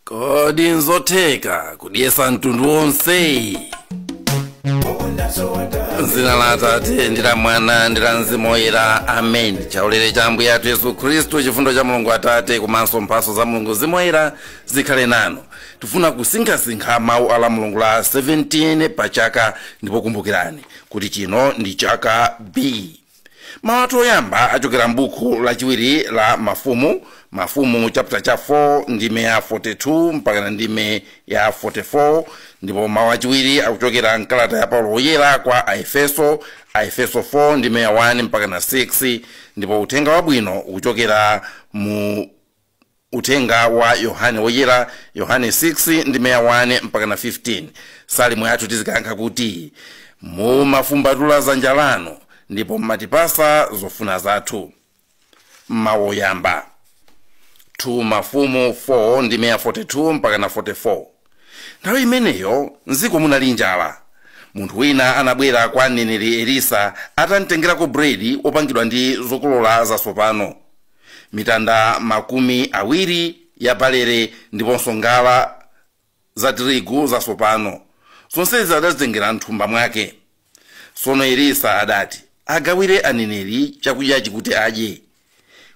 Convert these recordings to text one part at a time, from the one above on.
kodi nzotheka kudyesa mtundu wonse dzina la atate ndi la mwana ndi la mzimu woyera amen chaulere cha ambuye athu yesu khristu chifundo cha mulungu atate komanso mphatso za mulungu mzimu woyera zikhale nanu tifuna kusinkhasinkha mawu a lamulungu la 17 pa chaka ndipo kumbukirani kuti chino ndi chaka b mawu athu oyamba achokera m'buku lachiwiri la mafumu mafumu chapter cha 4 ndime ya 42 mpakana ndime ya 44 ndipo mawu achiwiri akuchokera mkalata ya paulo woyera kwa aefeso aefeso 4 ndime ya 1 mpakana 6 ndipo uthenga wabwino ukuchokera mu uthenga wa yohane woyera yohane 6 ndime ya 1 mpakana 15 salimo yathu tizikayankha kuti mumafumbatula dzanja lanu ndipo mmatipatsa zofuna zathu mawu oyamba 2 mafumu 4 ndime ya 42 mpakana 44 nthawi imeneyo mdziko munali njala munthu wina anabwera kwa mneneri elisa atamtengerako buledi wopangidwa ndi zokolola zatsopano mitanda makumi awiri ya balere ndiponso ngala za tirigu zatsopano zonsezi adazitengera mthumba mwake tsono elisa adati agawireni aneneri chakudyachi kuti adye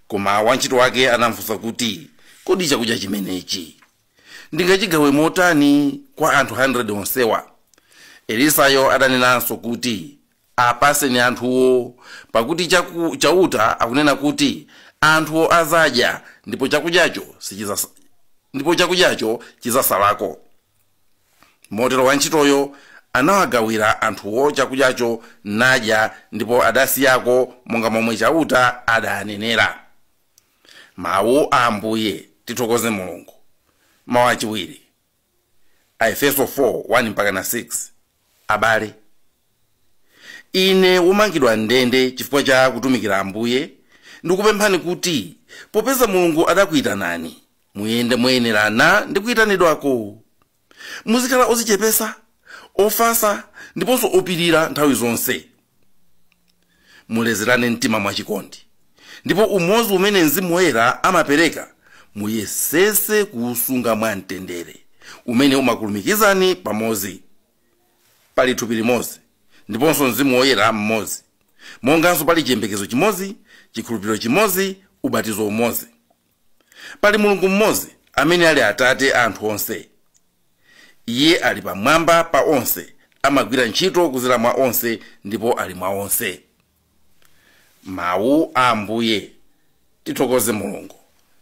koma wantchito wake anamfunsa kuti kodi chakudya chimenechi ndingachigawe motani kwa anthu 100 onsewa elisayo adanenanso kuti Apatseni anthuwo, pakuti Chaku, Chauta akunena kuti, Anthuwo adzadya, ndipo chakudyacho sichidzas, ndipo chakudyacho chidzatsalako. Motero wantchitoyo anawagawira anthuwo chakudyacho, nadya, ndipo adasiyako monga momwe Chauta adanenera. Mau a Ambuye. Tithokoze Mulungu. Mau achiwiri. aefeso 4 1-6 abale ine womangidwa m'ndende chifukwa cha kutumikira ambuye ndikupemphani kuti popeza mulungu adakuyitanani muyende moyenerana ndi kuyitanidwako muzikhala odzichepetsa ofatsa ndiponso opirira nthawi zonse mulezerane mtima mwachikondi ndipo umodzi umene mzimu woyera amapereka muyesetse kuusunga mwa mtendere umene umakulumikizani pamodzi pali thupi limodzi ndiponso mzimu woyera mmodzi monganso pali chiyembekezo chimodzi chikhulupiriro chimodzi ubatizo umodzi Pali Mulungu mmodzi amene ali Atate a anthu onse. Iye ali pamwamba pa onse, amagwira ntchito kudzera mwa onse ndipo ali mwa onse. Mawu a Ambuye. Tithokoze Mulungu.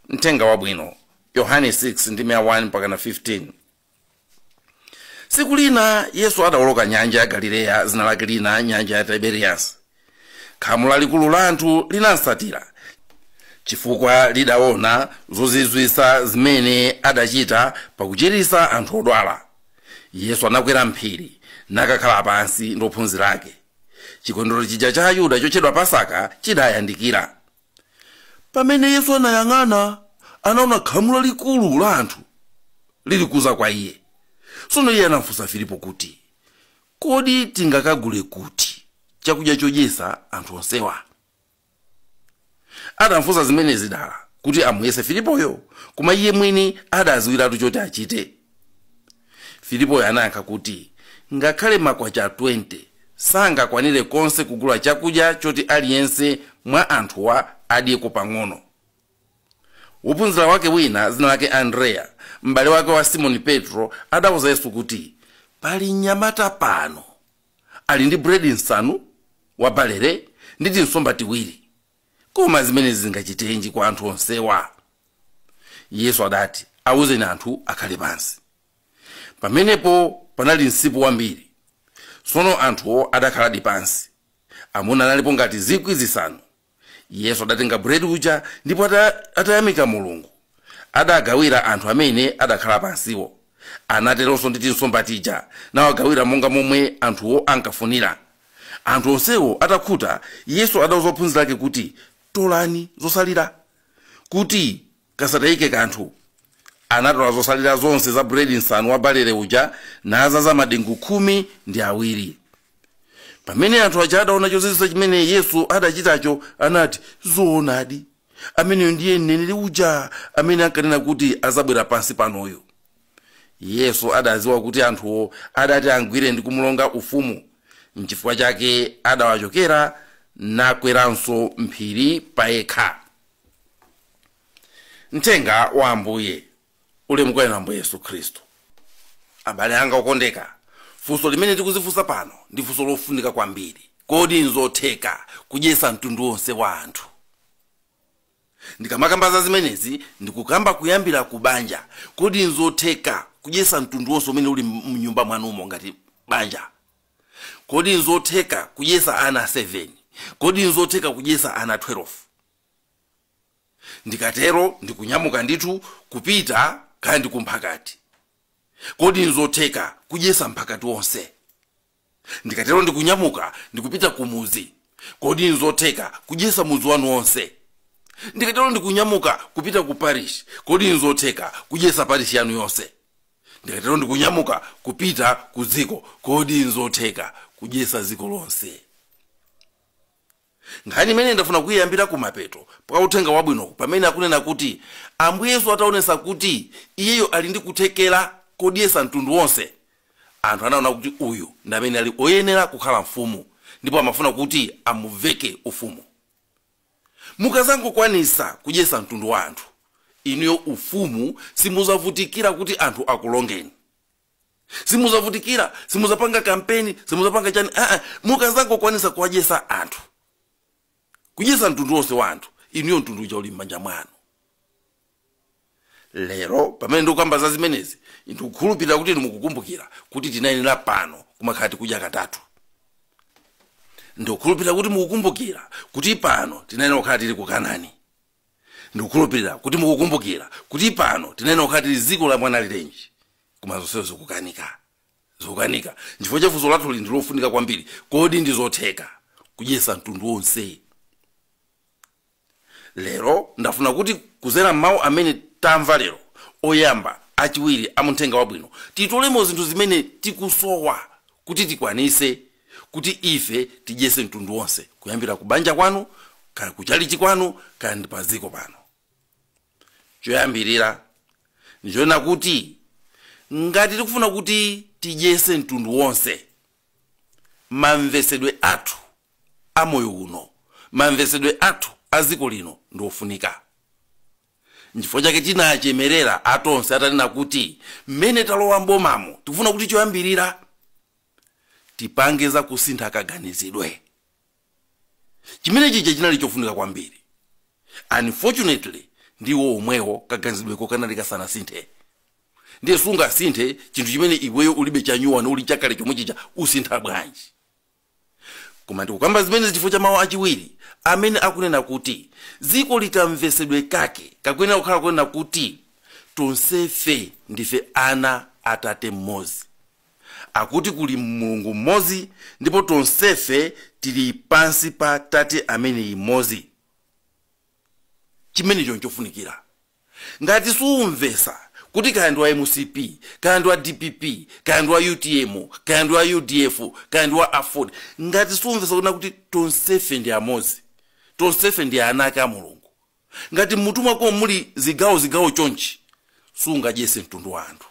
Uthenga Wabwino, Yohane 6 ndime ya 1 mpakana 15. tsiku lina yesu adawoloka nyanja ya galileya dzina lake lina nyanja ya tiberiyasi khamu lalikulu la anthu linamtsatira chifukwa lidaona zozizwitsa zimene adachita pakuchiritsa anthu odwala yesu anakwera m'phiri nakakhala pansi ndi ophunzira ake chikondwerero chija cha ayuda chotchedwa pasaka chidayandikira pamene yesu anayang'ana anaona khamu lalikulu la anthu lilikudza kwa iye tsono iye anamfunsa filipo kuti kodi tingakagule kuti chakudya chodyetsa anthu onsewa adamfunsa zimenezi dala kuti amuyese filipoyo koma iye mwini adadziwiratu choti achite Filipoyo anayankha kuti, Ngakhale makwacha 20 sangakwanire konse kugula chakudya choti aliyense mwa anthuwa adyeko pang'ono. Wophunzira wake wina, dzina lake Andreya, m'bale wake wa Simoni Petro, adauza Yesu kuti, Pali mnyamata pano ali ndi buledi msanu wa balere ndi tinsomba tiwiri. koma zimenezi zingachitenji kwa anthu onsewa yesu adati awuzeni anthu akhale pansi pamenepo panali msipu wambiri tsono anthuwo adakhaladi pansi amuna analipo ngati zikwi zisanu yesu adatenga buledi uja ndipo ata- atayamika mulungu adagawira anthu amene adakhala pansiwo anateronso ndi tinsomba tija nawagawira monga momwe anthuwo ankafunira Anthu onsewo atakhuta, Yesu adauza ophunzira ake kuti, Tolani zotsalira, kuti kasatayike kanthu. Anatola zotsalira zonse za buledi msanu wa balere uja, nadzaza madengu khumi ndi awiri. Pamene anthu aja adaona chozizwitsa chimene Yesu adachitacho, anati, Zoonadi, ameneyu ndiye mneneri uja amene ankanena kuti adzabwera pansi panoyu yesu adadziwa kuti anthuwo adati amgwire ndi kumulonga ufumu n'chifukwa chake adawachokera nakweranso m'phiri payekha uthenga wa ambuye ulemu kwa inu ambuye yesu khristu abale anga okondeka funso limene tikudzifunsa pano ndi funso lofunika kwambiri kodi nzotheka kudyetsa mtundu wonse wa anthu ndikamakamba za zimenezi ndikukamba kuyambira ku banja kodi nzotheka kudyetsa mtundu wonse umene uli m'nyumba mwanumo ngati banja kodi nzotheka kudyetsa ana 7 kodi nzotheka kudyetsa ana 12 ndikatero ndikunyamuka ndithu kupita kaya ndikumphakati kodi nzotheka kudyesa mphakati wonse ndikatero ndikunyamuka ndikupita kumudzi kodi nzotheka kudyesa mudzi wanu wonse ndikatero ndikunyamuka kupita ku parish kodi nzotheka kudyesa parish yanu yonse ndikatero ndikunyamuka kupita ku dziko kodi nzotheka kudyesa dziko lonse Nkhani imeneyi ndafuna kuyambira kumapeto kwa Uthenga Wabwino pamene akunena kuti Ambuye Yesu ataonesa kuti Iyeyo ali ndi kuthekera kodyesa mtundu wonse, anthu anaona kuti uyu ndi amene ali oyenera kukhala mfumu ndipo amafuna kuti amumveke ufumu. Mukazangokwanisa kudyesa mtundu wa anthu, inuyo ufumu simuzavutikira kuti anthu akulongeni. simuzavutikira simuzapanga kampeni simuzapanga chani aa mukazangokwanisa kuwadyesa anthu kudyesa mtundu wonse wa anthu inuyo mtundu uja uli m'manja mwanu lero pamene ndikukamba za zimenezi ndikukhulupirira kuti mukukumbukira kuti tinayenera pano kumakhala tikudya katatu ndikukhulupirira kuti mukukumbukira kuti pano tinayenera kukhala tili ku kanani ndikukhulupirira kuti mukukumbukira kuti pano tinayenera kukhala tili dziko la mwana alirenji koma zonsezo zikukanika zikukanika chifukwa cha funso lathuli ndi lofunika kwambiri kodi ndi zotheka kudyesa mtundu wonse lero ndafuna kuti kuzera m'mawu amene tamva lero oyamba achiwiri amuthenga wabwino titolemo zinthu zimene tikusowa kuti tikwanise kuti ife tidyese mtundu wonse kuyambira ku banja kwanu kana ku chalichi kwanu kana ndi pa dziko pano choyambirira ndichonena kuti ngati tikufuna kuti tidyese mtundu wonse mamvesedwe athu a moyo uno mamvesedwe athu a dziko lino ndi ofunika nchifukwa chake tinachemerera atonse atanena kuti mmene talowa mbomamo tikufuna kuti choyambirira tipange za kusintha kaganizidwe chimene chija chinali chofunika kwambiri unfortunately ndiwo omwewo kaganizidweko kanali kasanasinthe ndiye sungasinthe chinthu chimene iweyo ulibe chanyuwani uli chakale chomwe chija usintha bwanji koma ndikukamba zimenezi chifukwa cha mawu achiwiri amene akunena kuti dziko ili kamvesedwe kake kakuyenera kukhala kunena kuti tonsefe ndife ana atate mmodzi Akuti kuli Mulungu mmodzi ndipo tonsefe tili pansi pa tate ameneyi mmodzi. Chimenecho nchofunikira. Ngati sumvetsa kuti kaya ndi wa mcp, kaya ndi wa dpp, kaya ndi wa utm, kaya ndi wa udf, kaya ndi wa aford, ngati sumvetsa kunena kuti tonsefe ndi amodzi, tonsefe ndi ana ake a Mulungu, ngati m'mutu mwakomo muli zigawo zigawo chonchi, sungadyetse mtundu wa anthu.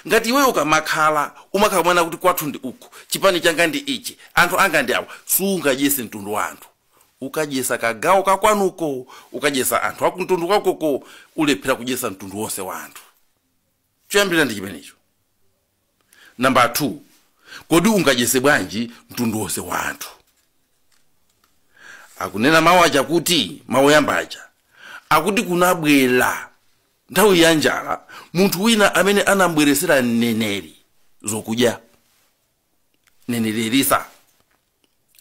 ngati iweyo ukamakhala umakhala kunena kuti kwathu ndi uku chipani changa ndi ichi anthu anga ndi awa sungadyese mtundu wa anthu ukadyesa kagawo kakwanuko ukadyesa anthu akumtundu kwakoko ulephera kudyesa mtundu wonse wa anthu choyambirira ndi chimenecho nambala 2 kodi ungadyese bwanji mtundu wonse wa anthu akunena mawu aja kuti mawu oyamba aja akuti kunabwera Nthawi ya njala, munthu wina amene anam'bweretsera mneneri zokudya, mneneri Elisa,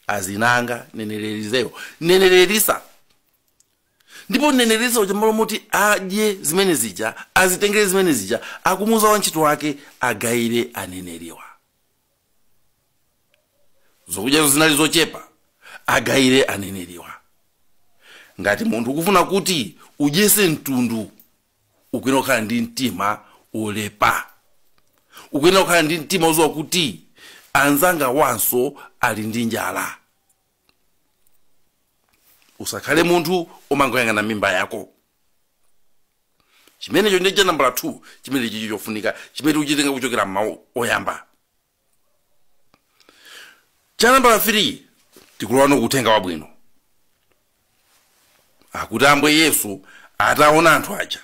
ena amati mneneri Eliseyo, mneneri Elisa. Ndipo mneneri Elisa uja m'malo moti adye zimene zija, azitengere zimene zija, akumuuza wantchito wake agawire aneneriwa. zokudyazo zinali zochepa agawire aneneriwa ngati munthu ukufuna kuti udyese mtundu ukuyenera kukhala ndi mtima oleza ukuyenera kukhala ndi mtima oziwa kuti anzangawanso ali ndi njala usakhale munthu omangoyang'ana mimba yako chimenecho ndiye cha nambala 2 chimene chili chofunika chimene tikuchitenga kuchokera m'mawu oyamba cha nambala 3 tikulowano ku uthenga wabwino akuti ambuye yesu ataona anthu aja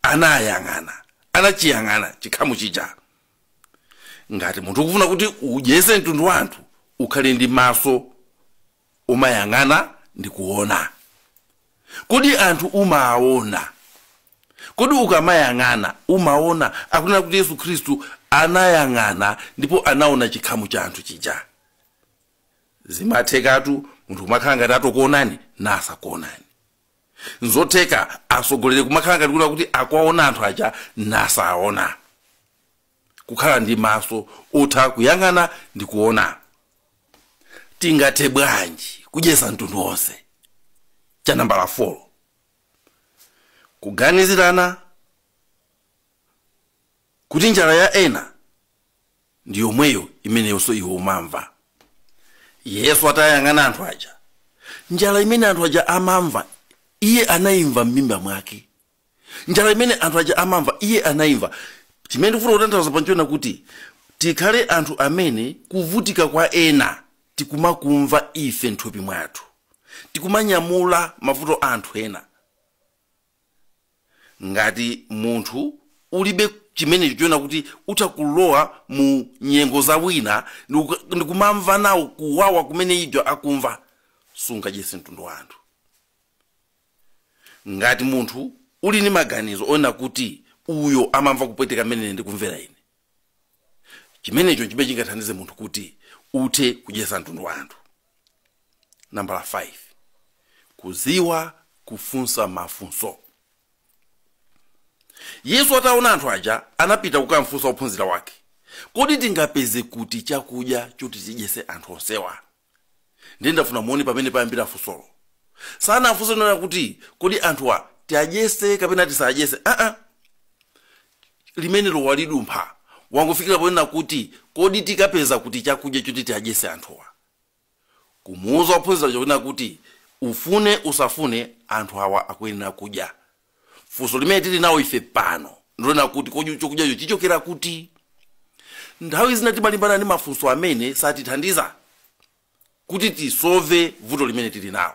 anayang'ana anachiyang'ana chikhamu chija ngati munthu ukufuna kuti udyese mtundu wa anthu ukhale ndi maso omayang'ana ndi kuona kodi anthu umaona kodi ukamayang'ana umaona akunena kuti yesu khristu anayang'ana ndipo anaona chikhamu cha anthu chija zimathekatu munthu kumakhala ngati atokuonani nasakuonani nzotheka atsogoleri kumakhala ngati kunena kuti akuwaona anthu aja nasaona kukhala ndi maso otha kuyang'ana ndi kuona tingathe bwanji kudyesa mtundu wonse cha nambala 4 kuganizirana kuti njala ya ena ndi yomweyo imeneyonso iwe umamva yesu atayang'ana anthu aja njala imene anthu aja amamva iye anayimva m'mimba mwake njala imene anthu aja amamva iye anayimva chimene ndikufuna kutanthauza apa nchonena kuti tikhale anthu amene kuvutika kwa ena tikumakumva ife m'thupi mwathu tikumanyamula mavuto a anthu ena ngati munthu ulibe chimenecho chonena kuti utha kulowa mu nyengo za wina ndikumamva nawo kuwawa kumene uja akumva sungadyese mtundu wa anthu ngati munthu uli ndi maganizo onena kuti uyo amamva kupweteka mmene ine ndikumvera ine chimenecho nchimene chingathandize munthu kuti uthe kudyetsa mtundu wa anthu nambala 5 kudziwa kufunsa mafunso yesu ataona anthu aja anapita kukamfunsa ophunzira wake kodi tingapeze kuti chakudya choti tidyetse anthu onsewa ndiye ndafuna muone pamene payambira funsolo sanafunse nena kuti kodi anthuwa tiadyese kapena tisadyese aa limenelo walidumpha wangofikira ponena kuti kodi tikapeza kuti chakudya choti tiadyese anthuwa kumuuza ophunzira chonena kuti ufune usafune anthu awa akuyenera kudya funso limene tili nawo ife pano ndi lonena kuti kodi chokudyacho chichokera kuti nthawi zina timalimbana ndi mafunso amene satithandiza kuti tisove vuto limene tili nawo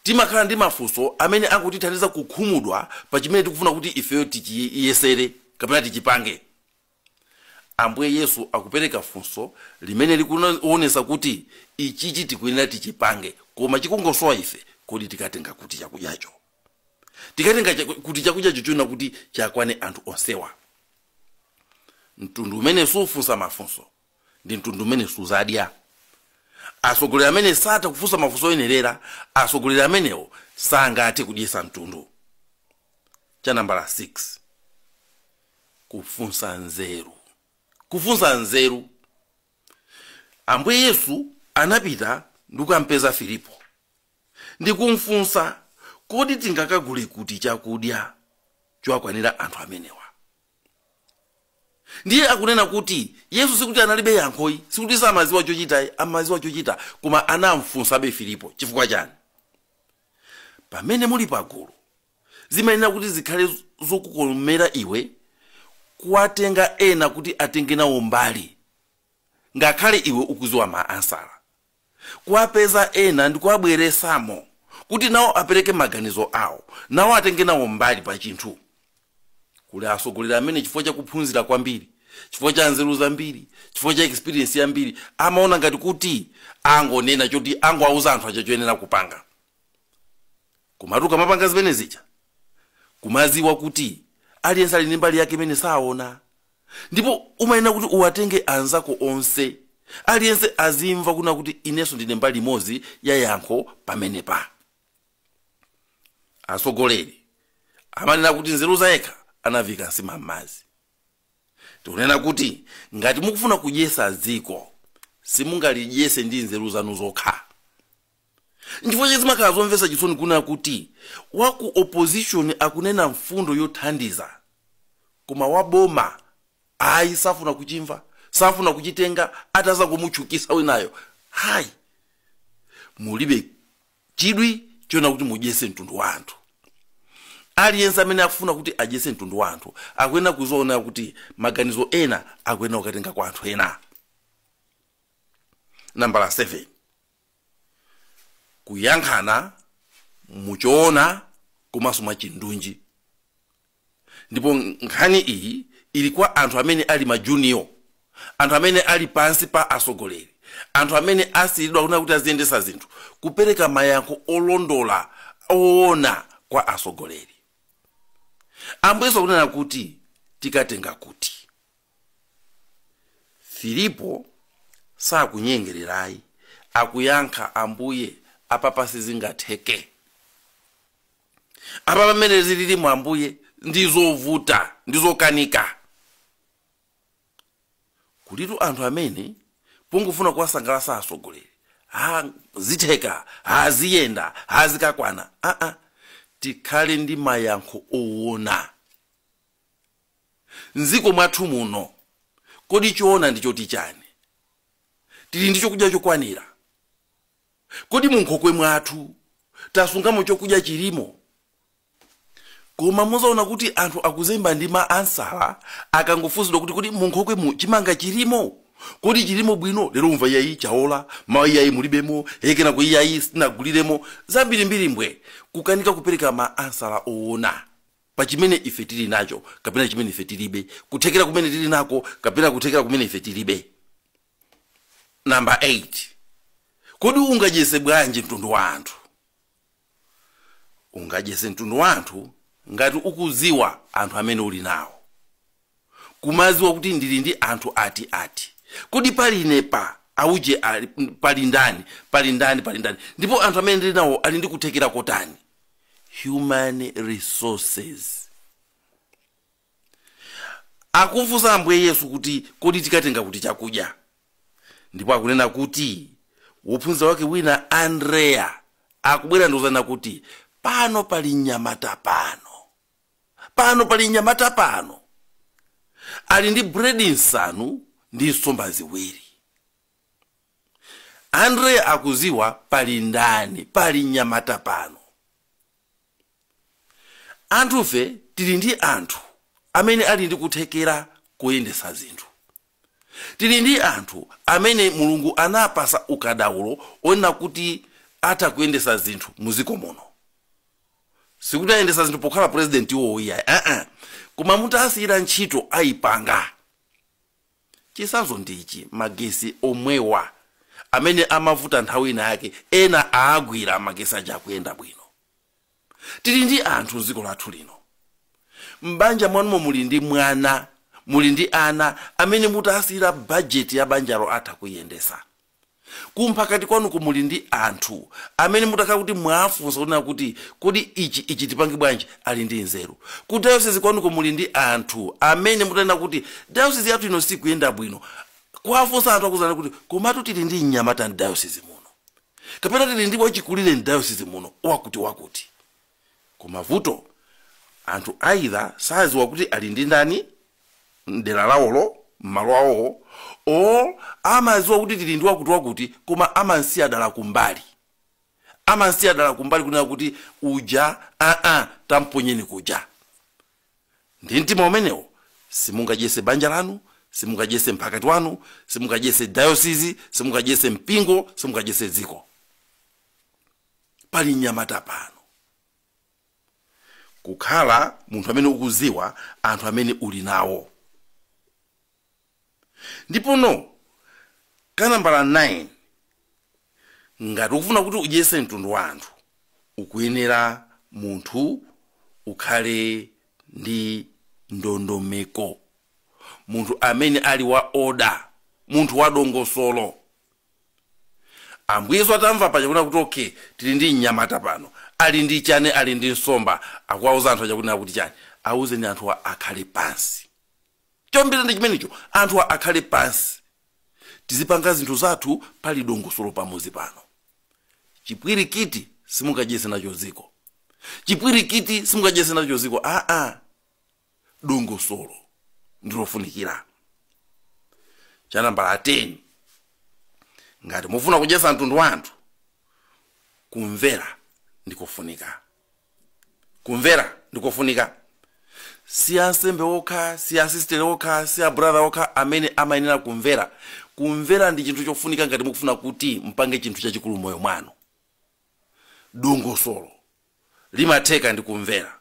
timakhala ndi mafunso amene angotithandiza kukhumudwa pa chimene tikufuna kuti ifeyo tichiyesere kapena tichipange Ambuye Yesu akupereka funso limene likuonesa kuti ichichi tikuyenera tichipange koma chikungosowa ife, kodi tikatenga kuti chakudyacho? Tikatenga kuti chakudyacho chonena kuti chakwane anthu onsewa? Mtundu umene sufunsa mafunso ndi mtundu umene suzadya. Atsogoleri amene satha kufunsa mafunso oyenerera, atsogoleri amenewo sangathe kudyesa mtundu. Cha nambala 6. kufunsa nzeru kufunsa nzeru ambuye yesu anapita ndi kukampeza filipo ndi kumfunsa kodi tingakagule kuti chakudya chowakwanira anthu amenewa ndiye akunena kuti yesu sikuti analibe yankho ayi sikuti samaziwa chochita ayi amaziwa chochita koma anamfunsabe filipo chifukwa chani pamene muli pagulu Zimayenera kuti zikhale zokukomera iwe kuwatenga ena kuti atenge nawo mbali ngakhale iwe ukuziwa ma ansala. Kuwapeza ena ndikuwabweresamo kuti nawo apereke maganizo awo, nawo atenge nawo mbali pa chinthu. Kuli atsogoleri amene chifukwa cha kuphunzira kwambiri, chifukwa cha nzeru zambiri, chifukwa cha experience yambiri amaona ngati kuti angonena choti angowauza anthu aja choyenera kupanga. Komatu ukamapanga zimene zija, kumadziwa kuti aliyense ali ndi mbali yake imene saona, ndipo umayenera kuti uwatenge anzako onse, aliyense azimva kunena kuti inenso ndine mbali imodzi ya yankho pamenepa. Atsogoleri amanena kuti nzeru za yekha anavika nsima m'madzi. Tikunena kuti ngati mukufuna kudyetsa dziko, simungalidyetse ndi nzeru zanu zokha. nchifukwa chake zimakhala zomvetsa chisoni kunena kuti wa ku opposition akunena mfundo yothandiza koma wa boma ayi safuna kuchimva safuna kuchitenga ataza kumutchukisa winayo ayi mulibe chidwi chonena kuti mudyese mtundu wa anthu aliyense amene akufuna kuti adyese mtundu wa anthu akuyenera kuziona kuti maganizo ena akuyenera kukatenga kwa anthu ena nambala 7 kuyankhana muchoona komanso mwachindunji ndipo nkhani iyi ili kwa anthu amene ali majuniyo anthu amene ali pansi pa atsogoleri anthu amene asiyiridwa kunena kuti aziyendesa zinthu kupereka mayankho olondola oona kwa atsogoleri ambuye Yesu kunena kuti tikatenga kuti filipo sakunyengerera ayi akuyankha ambuye apapa sizingatheke apa pamene zililimu ambuye ndi zovuta ndi zokanika kulitu anthu amene pongofuna kuwasangalatsa atsogoleri ha zitheka ha ziyenda ha zikakwana aa tikhale ndi mayankho owona M'dziko mwathu muno, kodi choona ndi choti chani? Tili ndi chokudya chokwanira? Kodi mu nkhokwe mwathu tasungamo chokudya chilimo? Koma muzaona kuti anthu akuzemba ndi ma ansala akangofunsidwa kuti kodi mu nkhokwemu chimanga chilimo? Kodi chilimo bwino? Lero umva iyayi chaola, mawa iyayi mulibemo, he kenako iyayi sitinaguliremo. Zambirimbiri mbwe. Kukanika kupereka ma ansala oona. pa chimene ife tiri nacho kapena chimene ife tiribe, kuthekera kumene tiri nako kapena kuthekera kumene ife tiribe. Namba 8, kodi ungadyese bwanji mtundu wa anthu? Ungadyese mtundu wa anthu ngati ukudziwa anthu amene uli nawo. kumaziwa kuti ndili ndi anthu ati ati kodi pali ine pa auje ali- m, pali ndani pali ndani pali ndani ndipo anthu amene ndili nawo ali ndi kuthekera kotani human resources akufunsa ambuye yesu kuti kodi tingatenge kuti chakudya ndipo akunena kuti wophunzira wake wina andreya akubwera ndikuzanena kuti pano pali mnyamata pano pano pali mnyamata pano ali ndi buredi nsanu ndi nsomba ziwiri andreya akuziwa pali ndani pali mnyamata pano anthufe tili ndi anthu amene ali ndi kuthekera koyendesa zinthu tili ndi anthu amene mulungu anapasa ukadaulo onena kuti atha kuyendesa zinthu muziko muno sikuti ayendesa zinthu pokhala president iwowo iyayi aa koma mutawasiyira ntchito ayipanga chisanzo ndichi magesi omwewa amene amavuta nthawi ina yake ena aagwira magesi aja kuyenda bwino tili ndi anthu mdziko lathu lino m'banja mwanumo muli ndi mwana muli ndi ana amene mutawasiyira bajeti ya banjalo atha kuyendesa ku mphakati kwanuko muli ndi anthu amene mutakhala kuti mwawafunsa kunena kuti kodi ichi ichi tipange bwanji ali ndi nzeru ku dayosezi kwanuko muli ndi anthu amene mutanena kuti dayosezi yathu ino sikuyenda bwino kuwafunsa anthu akuuzani kuti komatu tili ndi mnyamata mdayosezi muno kapena tili ndi wachikulire mdayosezi muno wakuti wakuti koma vuto anthu either saziwa kuti ali ndi ndani mdera lawolo m'malo awowo or amaziwa kuti tili ndi wakuti wakuti koma amansiya dala kumbali amansiya dala kumbali kunena kuti uja aa tamponyeni kuja ndi mtima umenewo simungadyese banja lanu simungadyese mphakati wanu simungadyese dayosizi simungadyese mpingo simungadyese dziko pali mnyamata pano kukhala munthu amene ukuziwa anthu amene uli nawo ndipono kanambala 9 ngati ukufuna kuti udyese mtundu wa anthu ukuyenera munthu ukhale ndi ndondomeko munthu amene ali wa oda munthu wa dongosolo Ambuye Yesu atamva paja kunena kuti okay tili ndi mnyamata pano ali ndi chani ali ndi nsomba akuwauza anthu aja kunena kuti chani auzeni anthuwa akhale pansi chombera ndi chimenecho anthuwa akhale pansi tizipanga zinthu zathu pali dongosolo pamuzi pano chipwirikiti simungadyese nacho dziko chipwirikiti simungadyese nacho dziko aa dongosolo ndilofunikira cha nambala 10 ngati mufuna kudyetsa mtundu wa anthu kumvera ndikofunika kumvera ndikofunika si ansembe okha si asistere okha si abrother okha amene amayenera kumvera kumvera ndi chinthu chofunika ngati mukufuna kuti mpange chinthu chachikulu moyo mwanu dongosolo limatheka ndi kumvera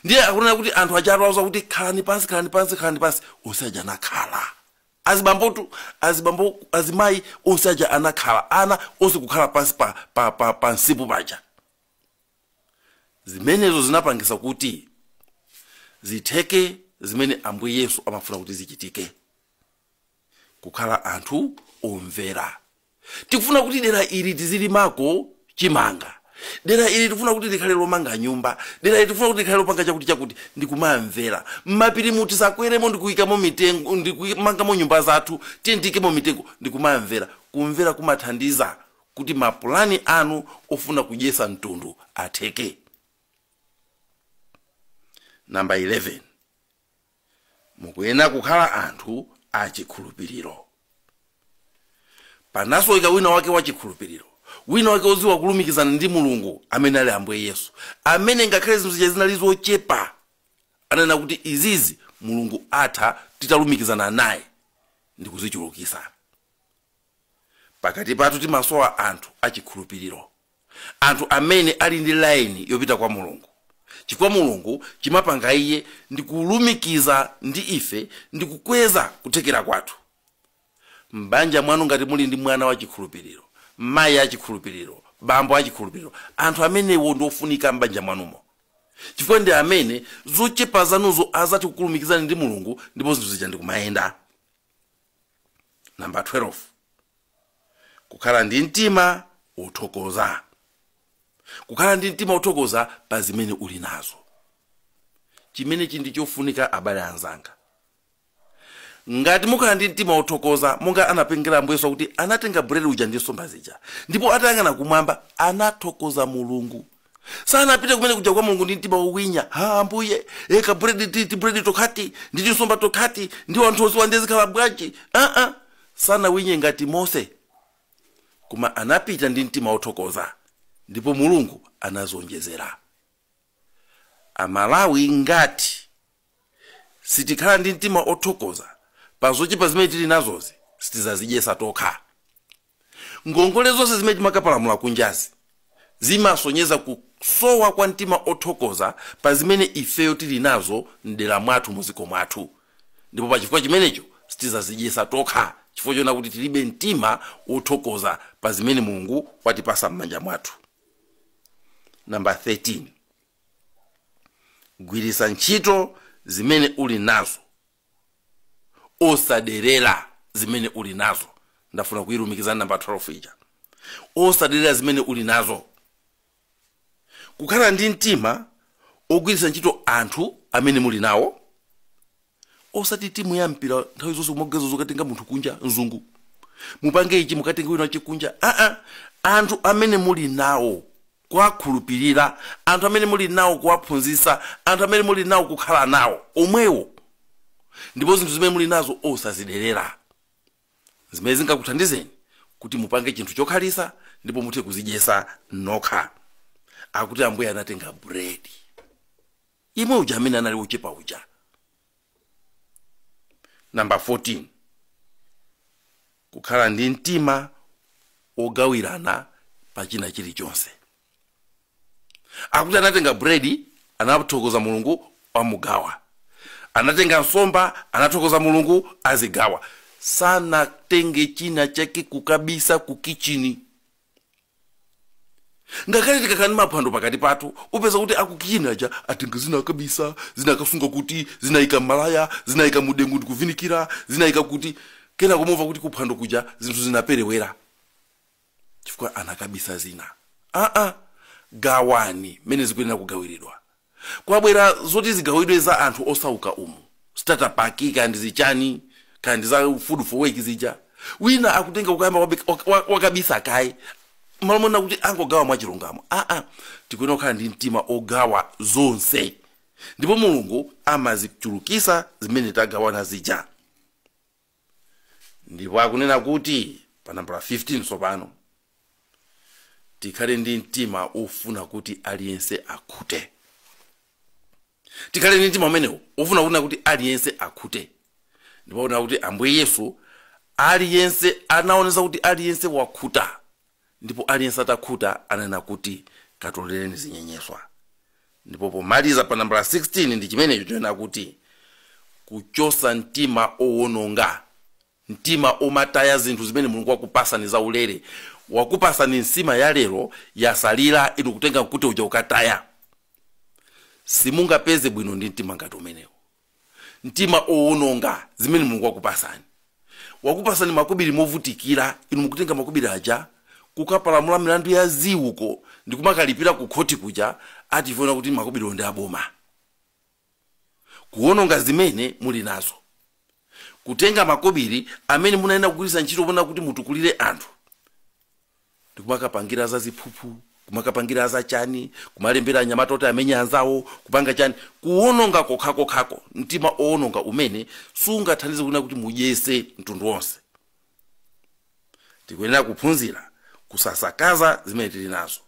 ndiye akunena kuti anthu aja atawauza kuti khalani pansi khalani pansi khalani pansi onse aja anakhala azibambotu azibambo azimayi onse aja anakhala ana onse kukhala pansi pa, pa, pa, pa nsipu paja zimenezo zinapangisa kuti zitheke zimene ambuye yesu amafuna kuti zichitike kukhala anthu omvera tikufuna kuti dera ili tizilimako chimanga dera ili tikufuna kuti likhale lomanga nyumba dera ili tikufuna kuti likhale lopanga chakuti chakuti ndikumamvera mmapiri muti tisakweremo ndikuyikamo mitengo ndikumangamo nyumba zathu tiyeni tiikemo mitengo ndikumamvera kumvera kumathandiza kuti mapulani anu ofuna kudyesa mtundu atheke namba 11 mukuyenera kukhala anthu achikhulupiriro panasoweka wina wake wachikhulupiriro wina wake odziwa kulumikizana ndi mulungu amene ali ambuye yesu amene ngakhale zinthu zija zinali zochepa ananena kuti izizi mulungu atha titalumikizana naye ndikuzichulukisa Pakati pathu timasowa anthu achikhulupiriro, anthu amene ali ndi laini yopita kwa Mulungu, chifukwa Mulungu chimapanga iye ndi kulumikiza ndi ife ndi kukweza kuthekera kwathu. M'banja mwanu ngati muli ndi mwana wachikhulupiriro, mayi achikhulupiriro, bambo achikhulupiriro, anthu amenewo ndi ofunika m'banja mwanumo, chifukwa ndi amene zochepa zanuzo azathe kukulumikizani ndi Mulungu ndipo zinthu zija ndi kumayenda. namba 12 kukhala ndi mtima wothokoza kukhala ndi mtima wothokoza pa zimene uli nazo chimenechi ndi chofunika abale anzanga ngati mukhala ndi mtima wothokoza monga anapangira ambuye yesu kuti anatenga buledi uja ndi nsomba zija ndipo atayang'ana kumwamba anathokoza mulungu sanapita kumene kuja kwa mulungu ndi mtima wowinya ha ambuye e kabuledi ti tibuledi tokhati ndi tinsomba tokhati ndi wanthu onse ndiye zikhala bwanji aa sanawinye ngati mose koma anapita ndi mtima wothokoza ndipo mulungu anazonjezera amalawi ngati sitikhala ndi mtima othokoza pa zochepa zimene tili nazozi sitizazidyesa tokha Ngongole zonse zimene timakapalamula kunjazi zimasonyeza kusowa kwa mtima othokoza pa zimene ifeyo tili nazo m'dera mwathu, mudziko mwathu, ndipo pa chifukwa chimenecho sitizazidyesa tokha chifukwa choona kuti tilibe mtima wothokoza pa zimene Mulungu watipasa m'manja mwathu. Number 13, gwiritsa ntchito zimene uli nazo. osaderera zimene uli nazo ndafuna kuyilumikiza ndi namba 12 ija osaderera zimene uli nazo kukhala ndi mtima ogwiritsa ntchito anthu amene muli nawo osati timu ya mpira nthawi zonse kumagezo zokatenga munthu kunja mzungu mupange ichi mukatenge wina wachikunja aa anthu amene muli nawo kuwakhulupirira, anthu amene muli nawo kuwaphunzitsa, anthu amene muli nawo kukhala nawo omwewo, ndipo zinthu zimene muli nazo osaziderera. Zimene zingakuthandizeni kuti mupange chinthu chokhalitsa ndipo muthe kuzidyetsa nokha. Akuti Ambuye anatenga bread. Yemwe uja amene anali ochepa uja. namba 14 kukhala ndi mtima wogawirana pa china chilichonse akuti anatenga buledi anathokoza mulungu amugawa anatenga nsomba anathokoza mulungu azigawa sanatenge china chake kukabisa ku kichini ngakhale tikakhala ndi maphwando pakati pathu upeza kuti akukichini aja atenga zina akabisa zina akasunga kuti zinayika mmalaya zinayika mudengu ndikuvinikira zinayika kuti kena kumumva kuti kuphwando kuja zinthu zinaperewera chifukwa anakabisa zina aa gawani mmene zikuyenera kugawiridwa kwabwera zoti zigawidwe za anthu osauka umu starter pack kaya ndi zichani kaya ndi za food for work zija wina akutenga kukayamba wabi- wak- wak- wakabisa kaye m'malo monena kuti angogawa mwachilungamo aa tikuyenera kukhala ndi mtima ogawa zonse ndipo mulungu amazichulukisa zimene tagawana zija ndipo akunena kuti pa nambala 15 tsopano tikhale ndi mtima ofuna kuti aliyense akhute tikhale ndi mtima umenewo ofuna kunena kuti aliyense akhute ndipo akunena kuti ambuye yesu aliyense anaonesa kuti aliyense wakhuta ndipo aliyense atakhuta ananena kuti katolereni zinyenyeswa ndipo pomaliza pa nambala 16 ndi chimenecho chonena kuti kuchosa mtima wowononga mtima womataya zinthu zimene mulungu wakupasani zaulere wakupasani nsima ya lero yasalira inu kutenga mkute uja ukataya simungapeze bwino ndi mtima ngati umenewo mtima wowononga zimene mulungu wakupasani wakupasani makobiri movutikira inu mukutenga makobiri aja kukapalamula milandu ya ziuko ndikumakalipira ku khoti kuja ati pofuna kuti makobiriwo ndi aboma kuwononga zimene muli nazo kutenga makobiri amene munayenera kugwiritsa ntchito ponena kuti mutukulire anthu ndikumakapangira za ziphuphu kumakapangira za chani kumalembera anyamata oti amenye anzawo kupanga chani kuwononga kokhakokhako mtima wowononga umene sungathandize kunena kuti mudyese mtundu wonse tikuyenera kuphunzira kusasakaza zimene tili nazo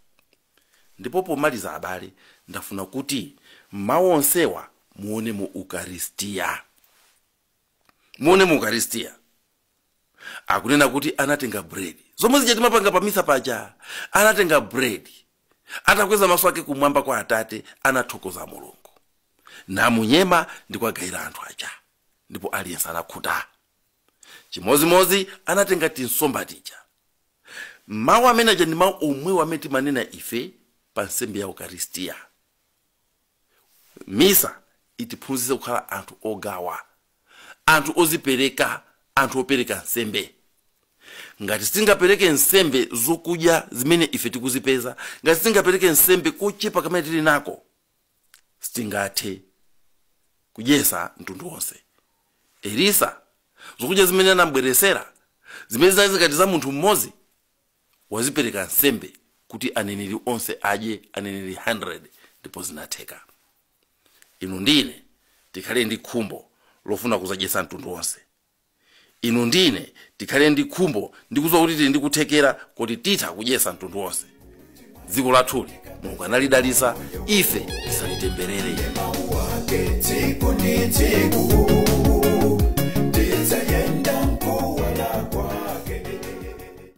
ndipo pomaliza abale ndafuna kuti mawu onsewa muone mu ukaristiya muone mu ukaristiya akunena kuti anatenga bread zomwe zija timapanga pa misa paja anatenga bread atakweza maso ake kumwamba kwa atate anathokoza mulungu namunyema ndi kuwagayira anthu aja ndipo aliyense anakhuta chimozimozi anatenga tinsomba tija mawu amene aja ndi mawu omwewo amene timanena ife pa nsembe ya ukaristiya misa itiphunzitse kukhala anthu ogawa anthu ozipereka anthu opereka nsembe ngati sitingapereke nsembe zokudya zimene ife tikuzipeza ngati sitingapereke nsembe kochepa kamene tili nako sitingathe kudyesa mtundu wonse elisa zokudya zimene anambweresera zimene zinali ngati za munthu mmodzi wazipereka nsembe kuti aneneri onse adye aneneri 100 ndipo zinatheka inu ndi ine tikhale ndi khumbo lofuna kuzadyesa mtundu wonse inu ndi ine tikhale ndi khumbo ndi kuziwa kuti tili ndi kuthekera kuti titha kudyesa mtundu wonse dziko lathuli mulungu analidalisa ife tisalitemberere